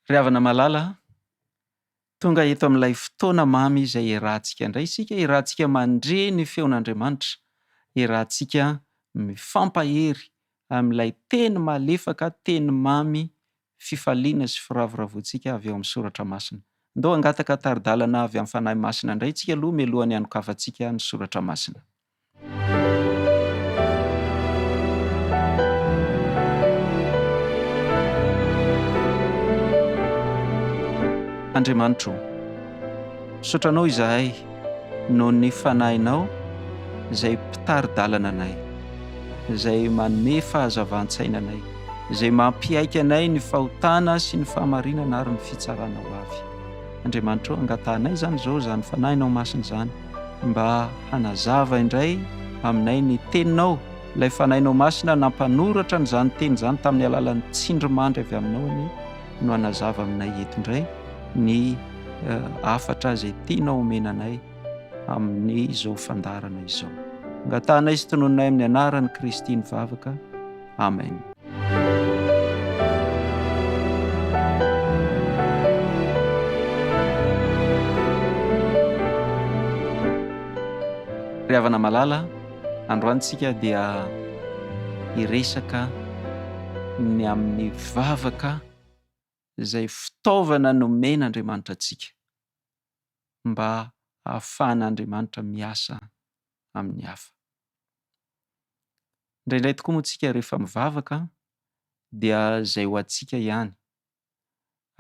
Ry havana malala a! Tonga eto amin'ilay fotoana mamy izay iarahantsika indray isika, iarahantsika mandre ny feon'Andriamanitra, iarahantsika mifampahery amin'ilay teny malefaka, teny mamy, fifaliana sy firavoravoantsika avy ao amin'ny soratra masina. Andao hangataka tari-dalana avy amin'ny Fanahy Masina indray isika aloha mialohan'ny hanokafantsika ny soratra masina. Andriamanitro, misaotra Anao izahay. noho ny Fanahinao izay mpitari-dalana anay, izay manome fahazavan-tsaina anay, izay mampiaiky anay ny fahotana sy ny fahamarinana ary ny fitsarana ho avy. Andriamanitra ô, angatahanay izany izao, izany Fanahinao Masina izany, mba hanazava indray aminay ny Teninao, ilay Fanahinao Masina nampanoratra an'izany Teny izany tamin'ny alalan'ny tsindrimandry avy Aminao anie. no hanazava aminay eto indray ny hafatra izay tianao homena anay amin'izao fandaharana izao. Angatahanay sy tononinay amin'ny anaran'i Kristy ny vavaka. Amen. Ry havana malala, Androany tsika dia hiresaka ny amin'ny vavaka izay fitaovana nomen'Andriamanitra antsika mba hahafahan'Andriamanitra miasa amin'ny hafa. Indraindray tokoa moa tsika rehefa mivavaka dia izay ho antsika ihany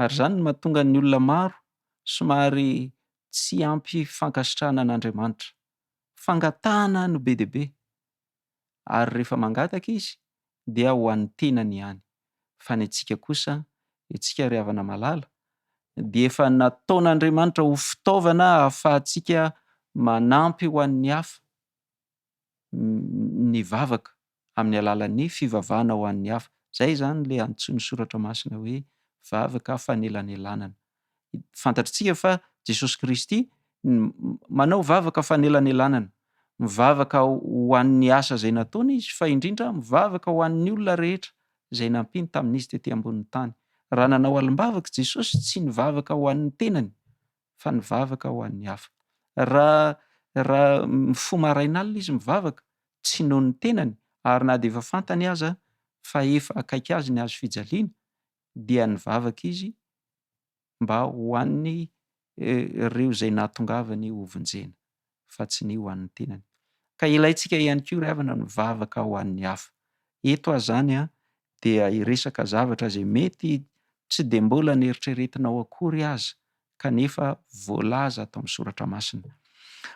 ary izany no mahatonga ny olona maro somary tsy ampy fankasitrahana an'Andriamanitra. Fangatahana no be dia be, ary rehefa mangataka izy dia ho an'ny tenany ihany, fa ny antsika kosa, isika ry havana malala, dia efa nataon'Andriamanitra ho fitaovana ahafahantsika manampy ho an'ny hafa. ny vavaka amin'ny alalan'ny fivavahana ho an'ny hafa. Izay izany ilay antsoin'ny Soratra Masina hoe vavaka fanelanelanana. Fantatr'tsika fa Jesosy Kristy manao vavaka fanelanelanana. Mivavaka ho an'ny asa izay nataony Izy, fa indrindra mivavaka ho an'ny olona rehetra izay nampiany tamin'Izy tety ambonin'ny tany. Raha nanao alim-bavaka Jesosy, tsy nivavaka ho an'ny tenany, fa nivavaka ho an'ny hafa. Raha, raha mifoha maraina alina izy mivavaka, tsy noho ny tenany, ary na dia efa fantany aza fa efa akaiky azy ny hazo fijaliana, dia nivavaka izy mba ho an'ny, eh, reo izay nahatongavany hovonjena. fa tsy ny ho an'ny tenany. Ka ilaintsika ihany koa ry havana ny mivavaka ho an'ny hafa. Eto aho izany dia hiresaka zavatra izay mety tsy dia mbola neritreretinao akory aza kanefa voalaza ato amin'ny soratra masina.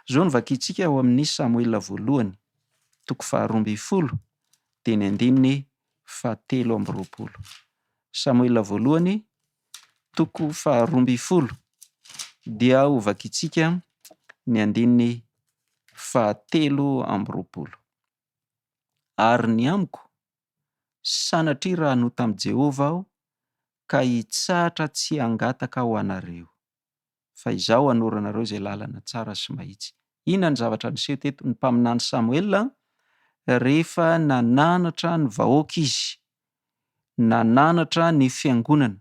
Izao no vakintsika ao amin'ny Samoela voalohany toko faharoa ambin'ny folo dia ny andininy fahatelo amby roapolo. Samoela voalohany toko faharoa ambin'ny folo dia hovakintsika ny andininy fahatelo amby roapolo. Ary ny amiko, sanatria raha hanota amin'i Jehovah aho ka hitsahatra tsy hangataka ho anareo. fa izaho hanoro anareo izay lalana tsara sy mahitsy. Inona ny zavatra niseho teto? Ny mpaminany Samoela, rehefa nananatra ny vahoaka izy, nananatra ny fiangonana,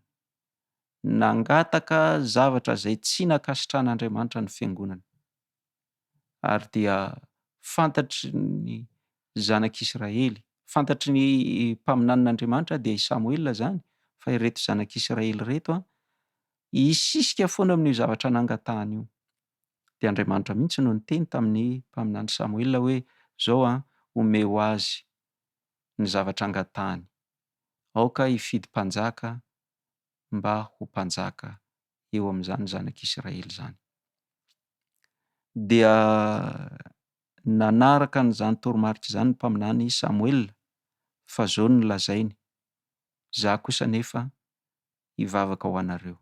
nangataka zavatra izay tsy nankasitrahan'Andriamanitra ny fiangonana. ary dia fantatry ny zanak'i Israely, fantatry ny mpaminanin'Andriamanitra dia i Samoela izany fa ireto zanak'i Israely ireto hisisika foana amin'io zavatra nangatahany io. Dia Andriamanitra mihitsy no niteny tamin'ny mpaminany Samoela hoe izao an, omeo azy ny zavatra angatahany, aoka hifidy mpanjaka mba ho mpanjaka eo amin'izany zanak'Israely izany. Dia nanaraka an'izany toromarika izany ny mpaminany Samoela fa izao no nolazainy, Izaho kosa anefa hivavaka ho anareo.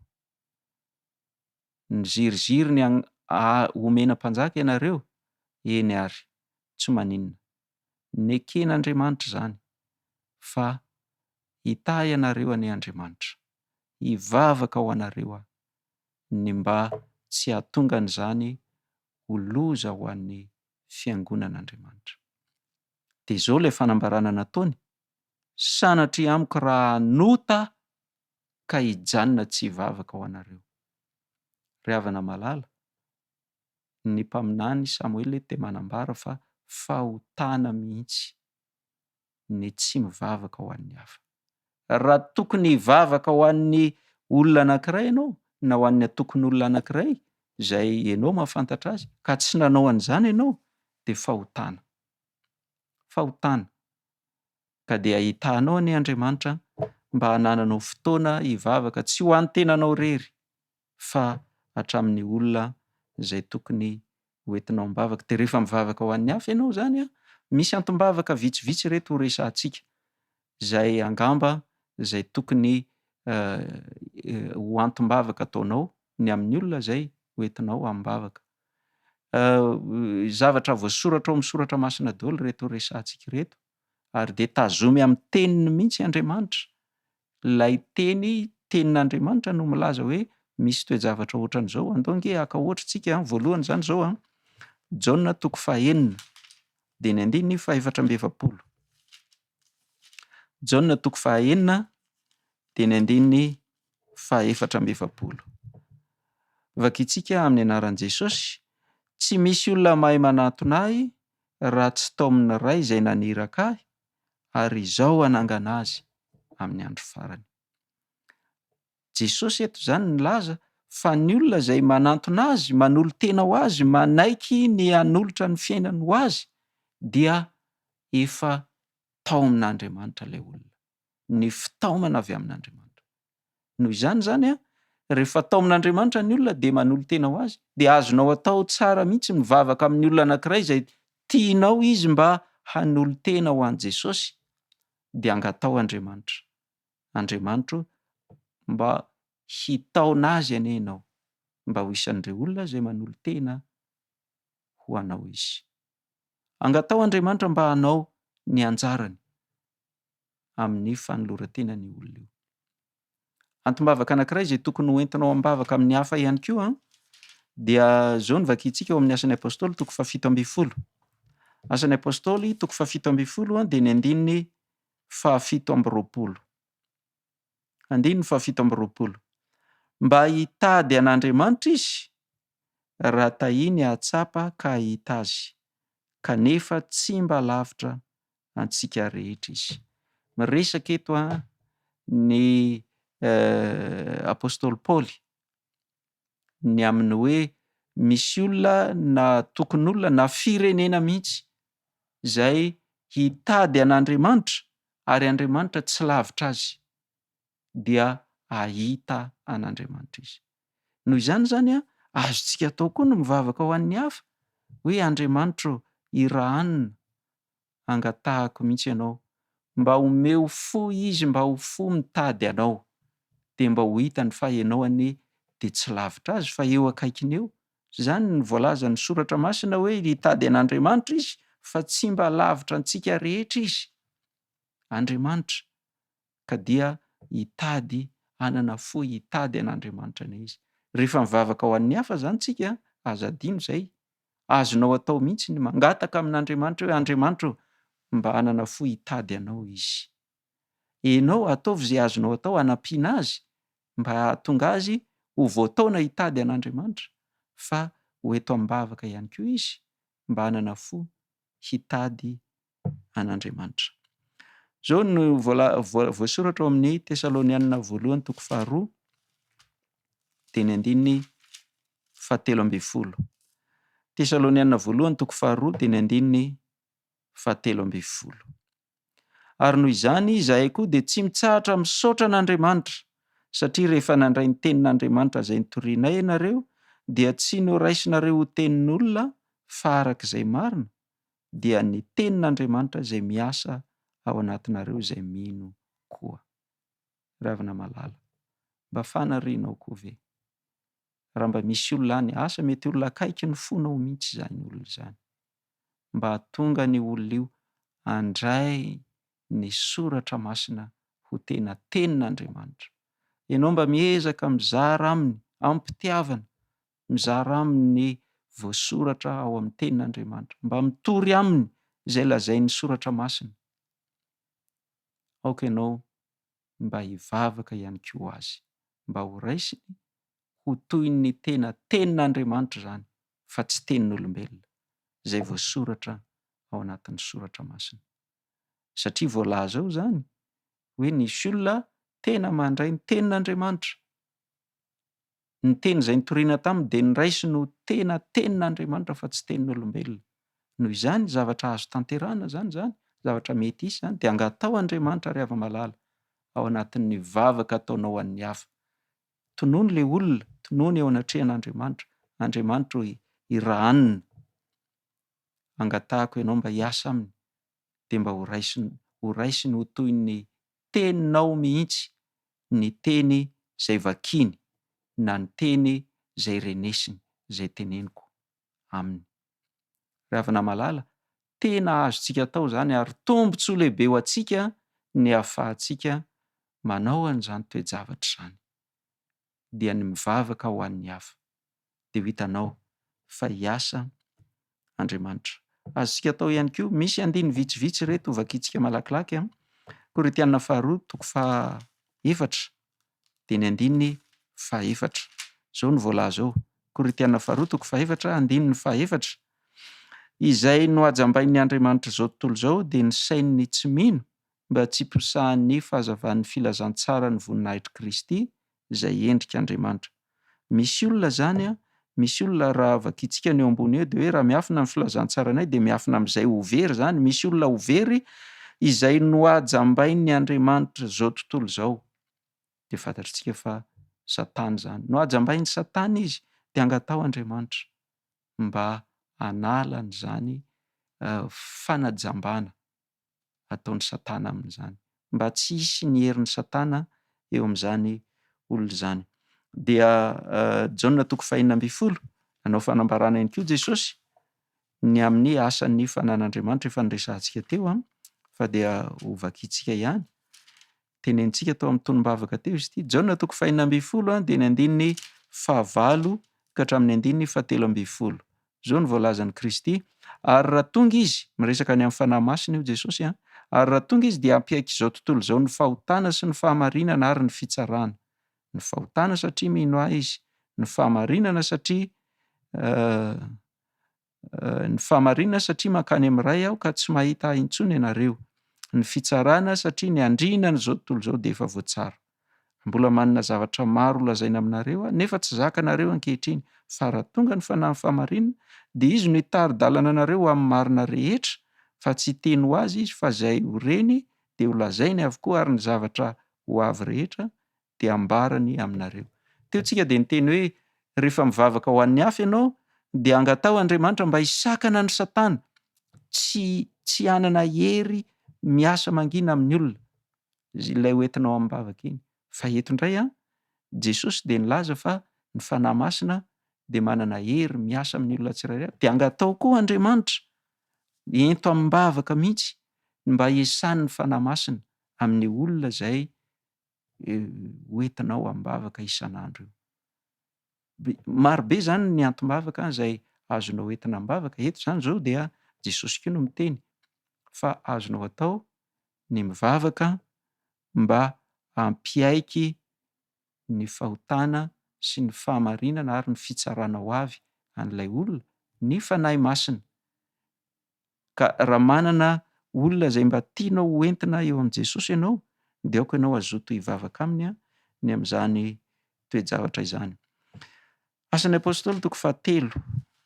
Niziriziry ny omena mpanjaka ianareo? Eny ary, tsy maninona, neken'Andriamanitra izany fa hitahy anareo anie Andriamanitra, hivavaka ho anareo aho ny mba tsy hahatongan'izany ho loza ho an'ny fiangonan'Andriamanitra. Dia izao ilay fanambarana nataony, Sanatria amiko raha hanota aho ka hijanona tsy hivavaka ho anareo. Ry havana malala, ny mpaminany Samoela dia manambara fa fahotana mihitsy ny tsy mivavaka ho an'ny hafa. Raha tokony hivavaka ho an'ny olona anankiray ianao na ho an'ny antokon'olona anankiray izay ianao mahafantatra azy ka tsy nanao an'izany ianao dia fahotana. Fahotana. Ka dia ahitanao anie Andriamanitra mba hanananao fotoana hivavaka tsy ho an'ny tenanao irery fa hatramin'ny olona izay tokony hoentinao am-bavaka. Dia rehefa mivavaka ho an'ny hafa ianao izany an, misy antom-bavaka vitsivitsy ireto ho resahantsika, izay angamba izay tokony ho antom-bavaka ataonao ny amin'ny olona izay hoentinao amim-bavaka. Zavatra voasoratra ao amin'ny soratra masina daholo ireto resahantsika ireto. ary dia tazomy amin'ny teniny mihitsy Andriamanitra. Ilay teny, tenin'Andriamanitra no milaza hoe misy toe-javatra ohatran'izao. Andao ange haka ohatra isika, voalohany izany izao, Jaona toko fahenina dia ny andininy fahefatra amby efapolo. Jaona toko fahenina dia ny andininy fahefatra amby efapolo. Vakintsika amin'ny anaran'i Jesosy, tsy misy olona mahay manatona ahy raha tsy taomin'ny Ray izay naniraka ahy ary izaho hanangana azy amin'ny andro farany. Jesosy eto izany nilaza fa ny olona izay manantona Azy, manolo-tena ho Azy, manaiky ny hanolotra ny fiainany ho Azy dia efa taomin'Andriamanitra ilay olona, ny fitaomana avy amin'Andriamanitra. Noho izany izany, rehefa taomin'Andriamanitra ny olona dia manolo-tena ho Azy, dia azonao atao tsara mihitsy mivavaka amin'ny olona anankiray izay tianao izy mba hanolo-tena ho an'i Jesosy, dia angataho Andriamanitra, Andriamanitra o, mba hitaona azy anie Ianao, mba ho isan'ireo olona izay manolo-tena ho Anao izy. Angataho Andriamanitra mba hanao ny anjarany, amin'ny fanoloran-tenany io olona io. Antom-bavaka anankiray izay tokony ho entinao am-bavaka amin'ny hafa ihany koa dia izao ny vakintsika ao amin'ny asan'ny Apostoly toko fahafito ambin'ny folo. Asan'ny Apostoly toko fahafito ambin'ny folo dia ny andininy fahafito amby roapolo. Andininy fahafito amby roapolo. Mba hitady an'Andriamanitra izy raha tahiny hahatsapa ka hahita azy kanefa tsy mba lavitra antsika rehetra izy. Miresaka eto ny apostoly Paoly ny amin'ny hoe misy olona na tokon'olona na firenena mihitsy izay hitady an'Andriamanitra ary Andriamanitra tsy lavitra azy dia hahita an'Andriamanitra izy. Noho izany izany azontsika atao koa ny mivavaka ho an'ny hafa hoe Andriamanitra ô irahanona hangatahako mihitsy ianao mba omeo fo izy mba ho fo mitady anao dia mba ho hitany fa ianao anie dia tsy lavitra azy fa eo akaikiny eo izany no voalazan'ny soratra masina hoe hitady an'Andriamanitra izy fa tsy mba lavitra antsika rehetra izy Andriamanitra ka dia hitady hanana fo hitady an'Andriamanitra anie izy rehefa mivavaka ho an'ny hafa izany tsika aza adino izay Azonao atao mihitsy ny mangataka amin'Andriamanitra hoe, Andriamanitra ô, mba hanana fo hitady Anao izy. Enao ataovy izay azonao atao hanampiana azy mba hahatonga azy ho voataona hitady an'Andriamanitra, fa ho eto am-bavaka ihany koa izy mba hanana fo hitady an'Andriamanitra. Izao no voasoratra ao amin'ny Tesalonianina voalohany toko faharoa, dia ny andininy fahatelo ambin'ny folo. Tesalonianina voalohany toko faharoa, dia ny andininy fahatelo ambin'ny folo. Ary noho izany, izahay koa dia tsy mitsahatra misaotra an'Andriamanitra, satria rehefa nandray ny tenin'Andriamanitra izay nitorianay ianareo, dia tsy noraisinareo ho tenin'olona fa araka izay marina, dia ny tenin'Andriamanitra izay miasa ao anatinareo izay mino koa. Ravina malala. Mba fanarianao koa ve? Raha mba misy olona any, asa mety olona akaiky ny fonao mihitsy izany olona izany. Mba hahatonga an'io olona io handray ny soratra masina ho tena tenin'Andriamanitra. Ianao mba miezaka mizara aminy amim-pitiavana mizara aminy ny voasoratra ao amin'ny Tenin'Andriamanitra, mba mitory aminy izay lazain'ny Soratra Masina. Aoka ianao mba hivavaka ihany koa ho azy, mba ho raisiny ho toy ny tena Tenin'Andriamanitra izany, fa tsy tenin'olombelona, izay voasoratra ao anatin'ny Soratra Masina. Satria voalaza ao izany hoe nisy olona tena mandray ny Tenin'Andriamanitra. Ny teny izay nitoriana taminy dia noraisiny ho tena tenin'Andriamanitra fa tsy tenin'olombelona. Noho izany, zavatra azo tanterahana izany izany, zavatra mety hisy izany, dia angataho Andriamanitra ry hava-malala, ao anatin'ny vavaka ataonao ho an'ny hafa. Tonony ilay olona, tonony eo anatrehan'Andriamanitra, Andriamanitra o, i Rahanina, angatahako ianao mba hiasa aminy, dia mba ho raisiny ho toy ny teninao mihitsy ny teny izay vakiany na ny teny izay renesiny izay teneniko aminy. Ry havana malala, tena azontsika atao izany ary tombontsoa lehibe ho antsika ny ahafahantsika manao an'izany toe-javatra izany. dia ny mivavaka ho an'ny hafa, dia ho hitanao fa hiasa Andriamanitra. Azontsika atao ihany koa, misy andininy vitsivitsy ireto hovakintsika malakilaky. Korintiana faharoa toko fahaefatra dia ny andininy fahaefatra. Izao no voalaza ao, Korintiana faharoa toko fahaefatra andininy fahaefatra, Izay nohajambain'ny andriamanitr'izao tontolo izao dia ny sain'ny tsy mino mba tsy posahan'ny fahazavan'ny filazantsaran'ny voninahitr'i Kristy izay endrik' Andriamanitra. Misy olona izany an, misy olona raha vakintsika ny eo ambony eo dia hoe raha miafina ny filazantsaranay dia miafina amin'izay ho very izany, misy olona ho very izay nohajambain'ny andriamanitr' izao tontolo izao, dia fantatritsika fa Satana izany, nohajambain'i Satana izy dia angataho Andriamanitra mba hanala an'izany fanajambana ataon'i Satana amin'izany, mba tsy hisy ny herin'i Satana eo amin'izany olona izany. Dia Jaona toko fahenina ambin'ny folo, nanao fanambarana ihany koa Jesosy ny amin'ny asan'ny fananan'Andriamanitra, efa noresahantsika teo, fa dia ho vakintsika ihany. tenenintsika tao amin'ny tonom-bavaka teo izy ity. Jaona toko fahina ambin'ny folo dia ny andininy fahavalo ka hatramin'ny andininy fahatelo ambin'ny folo. Izao no voalazan'i Kristy, Ary raha tonga izy, miresaka ny amin'ny Fanahy Masina io Jesosy an, ary raha tonga izy dia hampiaiky izao tontolo izao ny fahotana sy ny fahamarinana ary ny fitsarana. Ny fahotana satria mino ahy izy, ny fahamarinana satria Ny fahamarinana satria mankany amin'ny Ray aho ka tsy mahita ahy intsony ianareo. Ny fitsarana satria ny andriana an'izao tontolo izao dia efa voatsara. Mbola manana zavatra maro holazaina aminareo aho nefa tsy zakanareo ankehitriny. Fa raha tonga ny Fanahin'ny fahamarinana dia Izy no hitari-dalana anareo ho amin'ny marina rehetra, fa tsy hiteny ho azy Izy fa izay ho reny dia holazainy avokoa ary ny zavatra ho avy rehetra dia ambarany aminareo. Teo tsika dia niteny hoe rehefa mivavaka ho an'ny hafa ianao dia angataho Andriamanitra mba hisakana an'i satana tsy tsy hanana hery miasa mangina amin'ny olona ilay ho entinao amin'ny vavaka iny. Fa eto indray an, Jesosy dia nilaza fa ny Fanahy Masina dia manana hery miasa amin'ny olona tsirairay avy. Dia angataho koa Andriamanitra ento amim-bavaka mihitsy ny mba hiasan'ny Fanahy Masina amin'ny olona izay ho entinao am-bavaka isan'andro io. Maro be izany ny antim-bavaka izay azonao entina am-bavaka. Eto izany izao dia Jesosy koa no miteny fa azonao atao ny mivavaka mba hampiaiky ny fahotana sy ny fahamarinana ary ny fitsarana ho avy an'ilay olona ny Fanahy Masina. Ka raha manana olona izay mba tianao ho entina eo amin'i Jesosy ianao dia aoka ianao hazoto hivavaka aminy ny amin'izany toe-javatra izany. Asan'ny Apostoly toko fahatelo,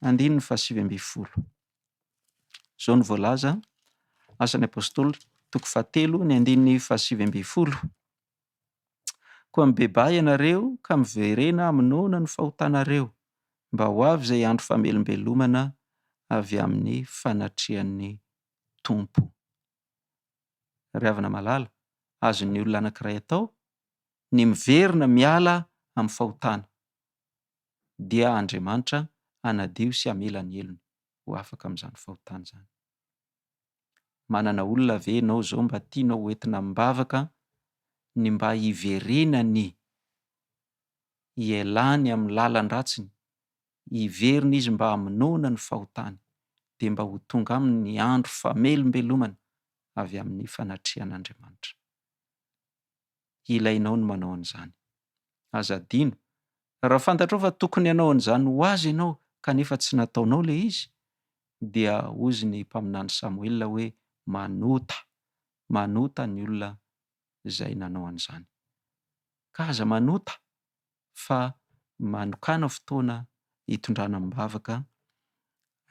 andininy fahasivy ambin'ny folo. Izao no voalaza, Asan'ny Apostoly toko fahatelo, ny andininy fahasivy ambin'ny folo. Koa mibebaha ianareo ka miverena hamonoana ny fahotanareo, mba ho avy izay andro famelombelomana avy amin'ny fanatrehan'ny Tompo. Ry havana malala, azon'ny olona anankiray atao ny miverina miala amin'ny fahotana, dia Andriamanitra hanadio sy hamela ny helony ho afaka amin'izany fahotana izany. Manana olona ve ianao izao mba tianao ho entina am-bavaka ny mba hiverenany, hialany amin'ny lalan-dratsiny, hiverina izy mba hamonoana ny fahotany, dia mba ho tonga aminy ny andro famelombelomana avy amin'ny fanatrehan'Andriamanitra. ilainao ny manao an'izany. Aza adino, raha fantatrao fa tokony hanao an'izany ho azy ianao kanefa tsy nataonao ilay izy, dia hozy ny mpaminany Samoela hoe, Manota, manota ny olona izay nanao an'izany. Ka aza manota fa manokàna fotoana hitondrana am-bavaka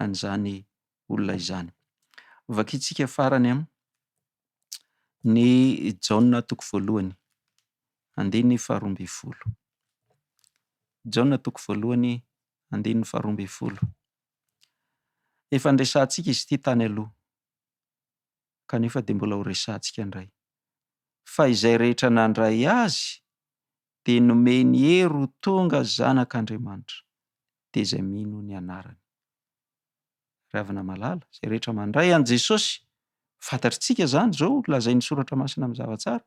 an'izany olona izany. Vakintsika farany ny Jaona toko voalohany, andininy faharoa ambin'ny folo. Jaona toko voalohany, andininy faharoa ambin'ny folo. Efa niresahantsika izy ity tany aloha, kanefa dia mbola horesahantsika indray. Fa izay rehetra nandray azy dia nomeny hery ho tonga zanak'Andriamanitra, dia izay mino ny anarany. Ry havana malala, izay rehetra mandray an'i Jesosy, fantatritsika izany izao, lazain'ny Soratra Masina mazava tsara,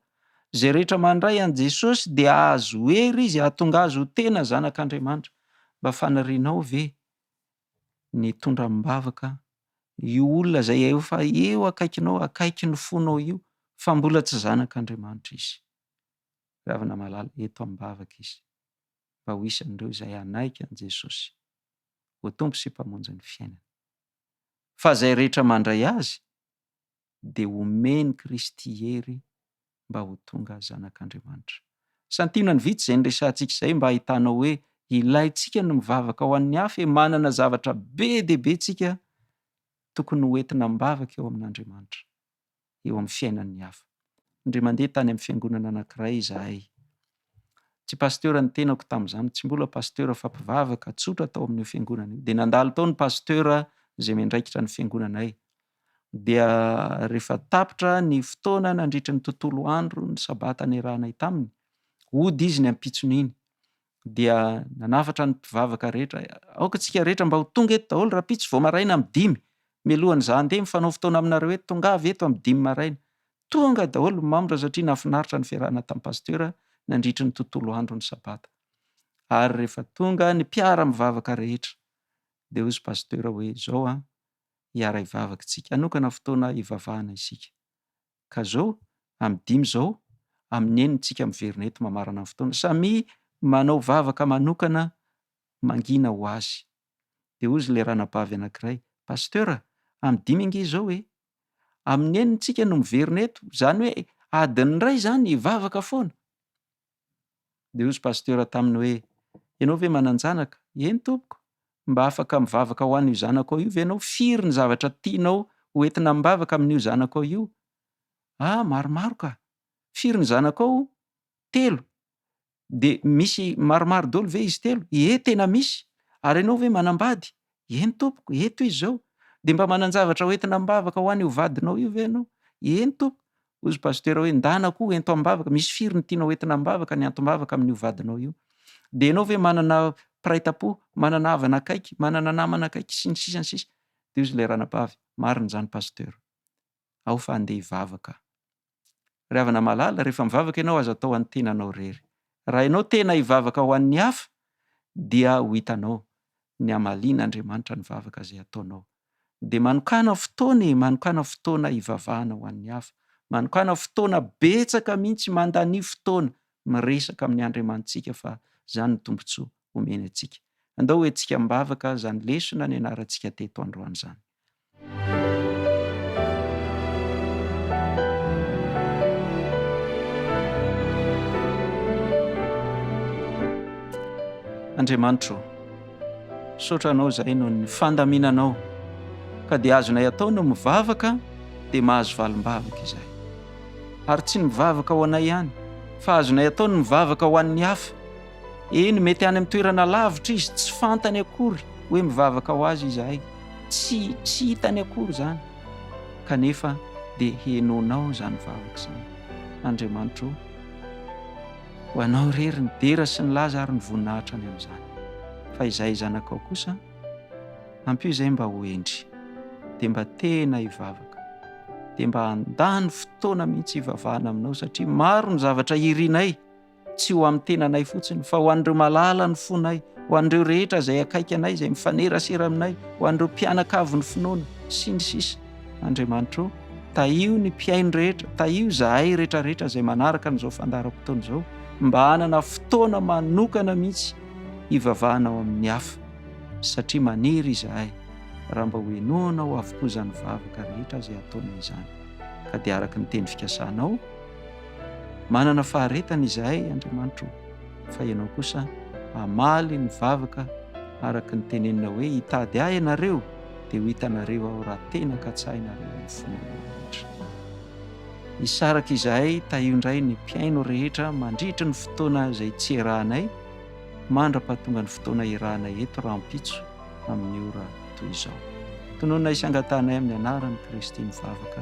izay rehetra mandray an'i Jesosy dia hahazo hery izy hahatonga azy ho tena zanak'Andriamanitra. Mba fanirianao ve ny hitondra amim-bavaka io olona izay efa eo akaikinao, akaiky ny fonao io, fa mbola tsy zanak'Andriamanitra izy? Ry havana malala, eto am-bavaka izy, mba ho isan'ireo izay hanaiky an'i Jesosy. ho Tompo sy Mpamonjin'ny fiainany. Fa izay rehetra mandray Azy dia homen'i Kristy hery mba ho tonga zanak'Andriamanitra. Santionany vitsy izay niresahantsika izay mba hahitanao hoe ilaintsika ny mivavaka ho an'ny hafa e! Manana zavatra be dia be tsika tokony hoentina am-bavaka eo amin'Andriamanitra. eo amin'ny fiainan'ny hafa. Indray mandeha tany amin'ny fiangonana anankiray izahay. Tsy pasitera ny tenako tamin'izany, tsy mbola pasitera fa mpivavaka tsotra tao amin'io fiangonana io. Dia nandalo tao ny pasitera izay miandraikitra ny fiangonanay. Dia rehefa tapitra ny fotoana nandritry ny tontolo andro ny sabata niarahanay taminy, hody izy ny ampitson'iny. dia nanafatra ny mpivavaka rehetra, Aoka isika rehetra mba ho tonga eto daholo rahampitso vao maraina amin'ny dimy, mialohan'ny za handeha mifanao fotoana aminareo eto, tongava eto amin'ny dimy maraina. Tonga daholo ny mambra satria nahafinaritra ny fiarahana tamin'ny pasitera nandritry ny tontolo andro ny sabata. Ary rehefa tonga ny mpiara-mivavaka rehetra dia hoy pasitera hoe, izao an, hiara-hivavaka isika, hanokana fotoana hivavahana isika. ka zao amin'ny dimy zao amin'ny enina tsika miverina eto mamarana ny fotoana samia manao vavaka manokana mangina ho azy de hozy le ranabavy anakiray pasteur a amin'ny dimy ange zao e amin'ny enina tsika no miverina eto zany hoe adin'ny iray zany vavaka foana Dia hozy Pasteur taminy hoe, Ianao ve manan-janaka? Eny tompoko! Mba afaka mivavaka ho an'io zanako ao io ve ianao? Firy ny zavatra tianao ho entina am-bavaka amin'io zanako ao io? Ah, maromaro ka! Firy ny zanako ao? Telo! Dia misy maromaro dolo ve izy telo? Ie, tena misy! Ary ianao ve manam-bady? Eny tompoko, eto izy izao. Dia mba manan-javatra ho entina am-bavaka ho an' io vadinao io ve ianao? Eny tompoko. Hoy izy pasitera hoe, Ndana koa ento am-bavaka, misy firy no tianao ho entina am-bavaka ny antom-bavaka amin' io vadinao io? Dia ianao ve manana mpiray tam-po, manana havana akaiky, manana namana akaiky, sy ny sisa, ny sisa. Dia hoy izy ilay ranabavy, Marina izany pasitera. ao fa andeha hivavaka. Ry havana malala, rehefa mivavaka ianao, aza atao an'ny tenanao irery. Raha ianao tena hivavaka ho an'ny hafa, dia ho hitanao ny hamalian'Andriamanitra ny vavaka izay ataonao. Dia manokàna fotoana e! Manokàna fotoana hivavahana ho an'ny hafa. Manokàna fotoana betsaka mihitsy, mandanio fotoana miresaka amin'ny Andriamanitsika fa izany no tombontsoa omeny antsika. Andao ho entsika mivavaka izany lesona nianarantsika teto androany izany. Andriamanitro, misaotra Anao izahay noho ny fandaminanao, ka dia azonay atao no mivavaka dia mahazo valim-bavaka izahay. Ary tsy ny mivavaka ho anay ihany, fa azonay atao ny mivavaka ho an'ny hafa. Eny, mety any amin'ny toerana lavitra izy, tsy fantany akory hoe mivavaka ho azy izahay. Tsy, tsy hitany akory izany. Kanefa dia henoinao izany vavaka izany. Andriamanitra o, ho anao irery ny dera sy ny laza ary ny voninahitra any amin'izany. Fa izay zanakao kosa, ampio izay mba ho hendry, dia mba tena hivavaka, dia mba handany fotoana mihitsy hivavahana aminao satria maro ny zavatra irinay. tsy ho amin'ny tenanay fotsiny fa ho an'ireo malala ny fonay, ho an'ireo rehetra izay akaiky anay, izay mifanerasera aminay, ho an'ireo mpianakavy ny finoana, sy ny sisa. Andriamanitro, tahio ny mpihaino rehetra, tahio izahay rehetra rehetra izay manaraka an'izao fandaharam-potoana izao, mba hanana fotoana manokana mihitsy hivavahana ao amin'ny hafa, satria maniry izahay raha mba hohenoanao avokoa izany vavaka rehetra izay ataonay izany, ka dia araka ny teny fikasanao, Manana faharetana izahay, Andriamanitro, fa Ianao kosa hamaly ny vavaka araka ny tenenina hoe, Hitady Ahy ianareo, dia ho hitanareo Aho raha tena katsahinareo ny finoana rehetra. Hisaraka izahay tahio indray ny mpihaino rehetra mandritry ny fotoana izay tsy iarahanay, mandra-pahatonga ny fotoana iarahanay eto rahampitso amin'ny ora toy izao. Tononina hisangatanay amin'ny Anaran'i Kristy ny vavaka.